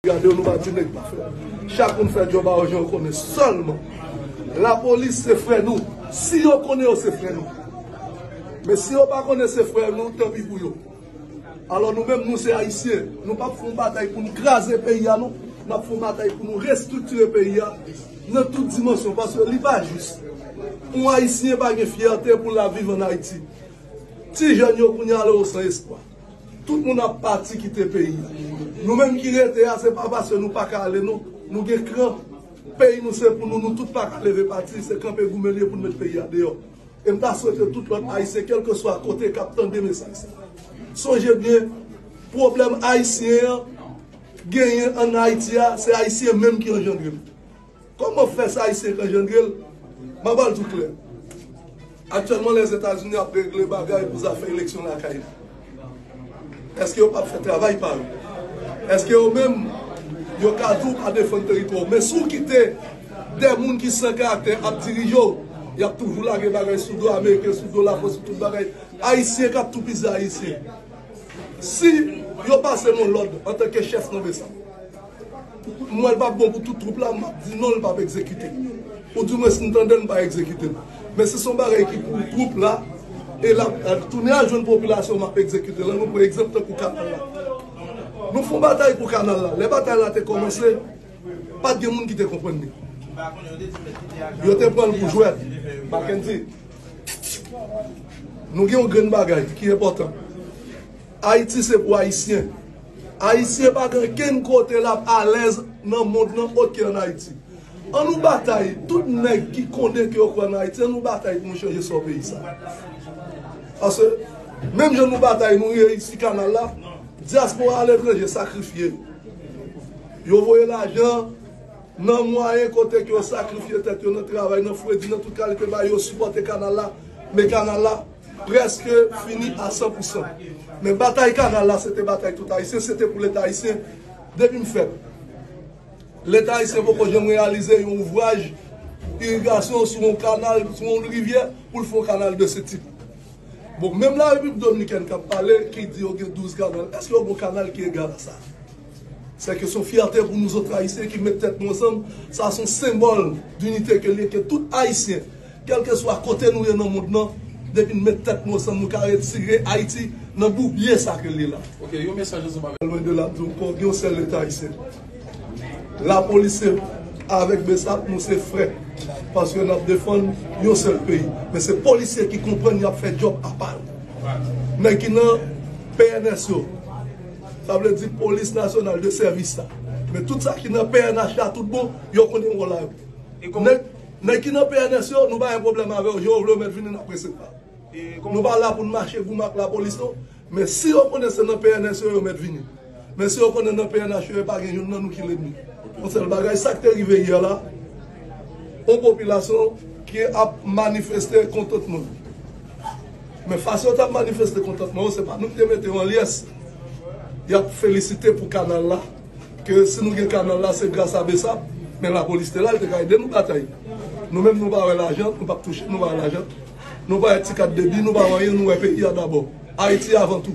Gade yon ba di nèg pa fè. Chak moun fè djòb a yo jan yo konnen sèlman. Lapolis se frè nou. Si yo konnen yo se frè nou. Men si yo pa konnen se frè nou, tanpi pou yo. Alò nou menm nou se Ayisyen. Nou pa p fè yon batay pou nou kraze peyi a non. N ap fè yon batay pou nou restriktire peyi a nan tout dimansyon. Paske li pa jis. Yon Ayisyen pa gen fyète pou l ap viv ann Ayiti. Ti jèn yo kounye a la yo san espwa. Tout moun ap pati kite peyi a. Nou menm ki rete a se pa paske nou paka ale non, nou gen kran. Peyi nou se pou nou, nou tout paka leve pati, se kanpe goumen li ye pou nou met peyi a deyò. E m ta swete tout lòt Ayisyen kèlkeswa kote k ap tande mesaj sa a, sonje byen pwoblèm Ayisyen an genyen ann Ayiti a, se Ayisyen menm ki anjandre l. Koman fè sa ayisyen k anjandre l? M a ba l tou klè. Aktyèlman Lèzetazini ap regle bagay pou zafè eleksyon lakay li. Èske yo p ap fè travay pa yo? Èske yo menm yo ka di w pa defann teritwa w? Men si w kite de moun ki san karaktè ap dirije w, y ap toujou lage bagay sou do ameriken, sou do lafrans, sou tout bagay. Ayisyen k ap toupizi ayisyen. Si yo pase m yon lòd antanke chèf nan bsap. M wè l pa bon pou tout twoup la, m ap di non l pa p egzekite. Ou di mwens m tande l m pa egzekite l. Men si se yon bagay ki pou twoup la, e l ap tounen al jwenn popilasyon m ap egzekite l. An nou pran egzanp tankou kanal la. Nou fon batay pou kanal la. Lè batay la te kòmanse, pa t gen moun ki te konprann li. Yo te pran l pou jwèt. Mackendy, nou gen yon grenn bagay ki enpòtan. Ayiti se pou Ayisyen. Ayisyen pa gen kenn kote lap alèz nan mond lan ot ke an Ayiti. An nou batay, tout nèg ki konnen ke yo kwè nan Ayiti an nou batay pou nou chanje sò peyi sa. Paske, menm jan nou batay nou reyisi kanal la, dyaspora aletranje sakrifye. Yo voye lajan nan mwayen kote ke yo sakrifye tèt yo nan travay, nan fredi, nan tout kalite bagay, yo sipòte kanal la, men kanal la. Prèske fini a san pou san. Men batay kanal la se te batay tout Ayisyen, se te pou Leta Ayisyen. Depi m fèt, Leta Ayisyen poko janm reyalize yon ouvraj irigasyon sou yon kanal, sou yon rivyè pou l fè yon kanal de se tip. Bon, menm Larepiblik Dominikèn k ap pale, ki di yo gen 12 kanal, èske yo gen yon kanal ki egal a sa? Sè ke son fyète pou nou zot Ayisyen ki met tèt nou ansanm, sa son senbòl dinite ke liye ke tout Ayisyen, kèlkeswa kote nou ye nan mond nan, depi n met tèt nou ansanm nou ka retire Ayiti nan bourbiye sa ke l ye la. Lwen de la, m di w ankò, gen yon sèl Leta Ayisyen. Lapolis se avèk Bsap nou se frè, paske n ap defann yon sèl peyi. Men se polisye ki konprann y ap fè djòb apa yo. Nèg ki nan pnh yo. Sa vle di polis nasyonal de sèvis la. Men tout sa ki nan pnh la tout bon, yo konnen wòl la yo. Nèg ki nan pnh yo, nou pa gen pwoblèm avè yo, jan yo vle yo mèt vini n ap resevwa yo. Nou pa la pou n mache goumen ak lapolis non. Men si yo konnen se nan pnh yo yo mèt vini. Men si yo konnen nan pnh yo e pa gen youn nan nou ki lènmi. Yon sèl bagay, sa k te rive yè la, yon popilasyon ki ap manifeste kontantman l. Men fason yo tap manifeste kontantman yo se pa nou ki te mete yo an lyes. Yap felisite pou kanal la, ke si nou gen kanal la se gras a Bsap, men lapolis te la li te ka ede nou batay. Nou menm nou pa wè lajan, nou pap touche, nou pa wè lajan, nou pa wè ti kat debi, nou pa wè anyen, nou wè peyi a dabò. Ayiti avan tou.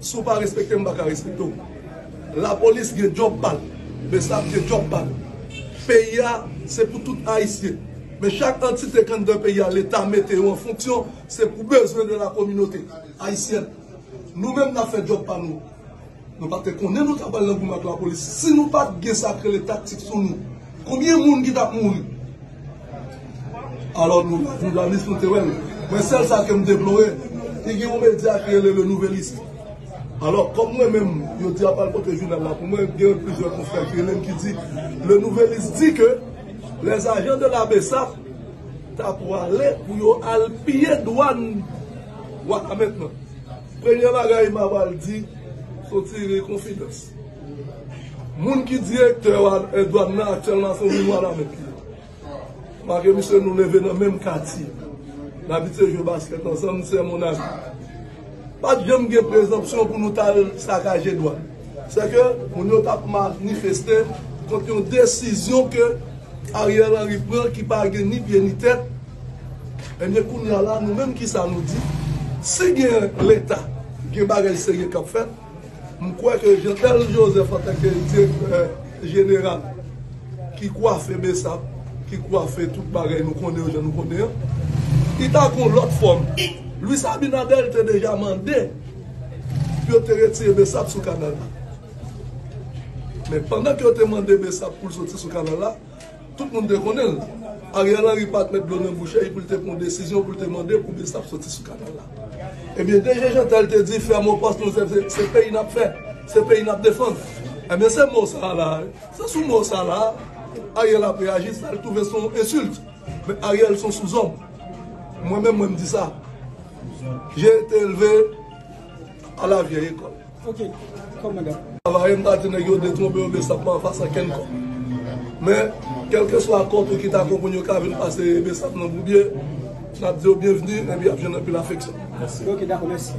Si w pa respekte m m pa ka respekte w. Lapolis gen djòb pa l. Bsap gen djòb pa l. Peyi a se pou tout Ayisyen. Men chak antite k anndan peyi a Leta mete yo an fonksyon se pou bezwen de la kominote ayisyèn. Nou menm n ap fè djòb pa nou. Nou pa te konnen nou t ap pral nan goumen ak lapolis si nou pa t gen sa k rele taktik sou nou. Konbyen moun ki tap mouri. Alò nou la journaliste nou te wèl mwen sèl sa kem deplore te gen yon media ki rele le nouvelliste alò kòm mwen menm yo di yap al pote jounal la pou mwen gen plizyè konfrè ki relem ki di le nouvelliste di ke les agents de la bsap ta pwale pou yo al piye dwann wanament nan premye bagay mabal di son ti ri konfidans. Moun ki direktè dwàn nan aktyèlman se yon moun Wanament li ye. Malgre misye nou leve nan menm katye, n abitye jwe baskèt ansanm, sè mon ami. Pa t janm gen prezanpsyon pou nou t al sakaje dwàn. Sèke moun yo t ap manifeste kont yon desizyon ke Ariel Henry pran ki pa gen ni pye ni tèt. Ebyen kounya la nou menm kisa nou di? Si gen leta, gen bagay serye k ap fèt. M kwè ke Jean-L. Joseph antanke direktè jeneral ki kwafe Bsap, ki kwafe tout bagay nou konnen yo jan nou konnen an, li ta gen yon lòt fòm. Luis Abinader te deja mande pou yo te retire Bsap sou kanal la. Men pandan ke yo te mande Bsap pou l soti sou kanal la, Tout moun te konnen l. Ariel Henry pa t met dlo nan bouch li pou l te pran yon desizyon pou l te mande pou Bsap soti sou kanal la. Ebyen DG Jeantel te di fè mo pas nou se se peyi n ap fè, se peyi n ap defann. Ebyen se mo sa la, se sou mo sa la Ariel ap reyaji sa l twouve se yon ensilt. Men Ariel se yon souzòm. Mwen menm mwen m di sa. J'ai été élevé à la vieille école. Travayè m pa di nèg yo detwonpe oubyen sa pran anfas ankenn kò. Men, kèlkeswa kò tou ki ta konprann yo ka vin pase besap nan boubye, n ap di yo byenvni epi y ap jwenn anpil afeksyon. Mèsi.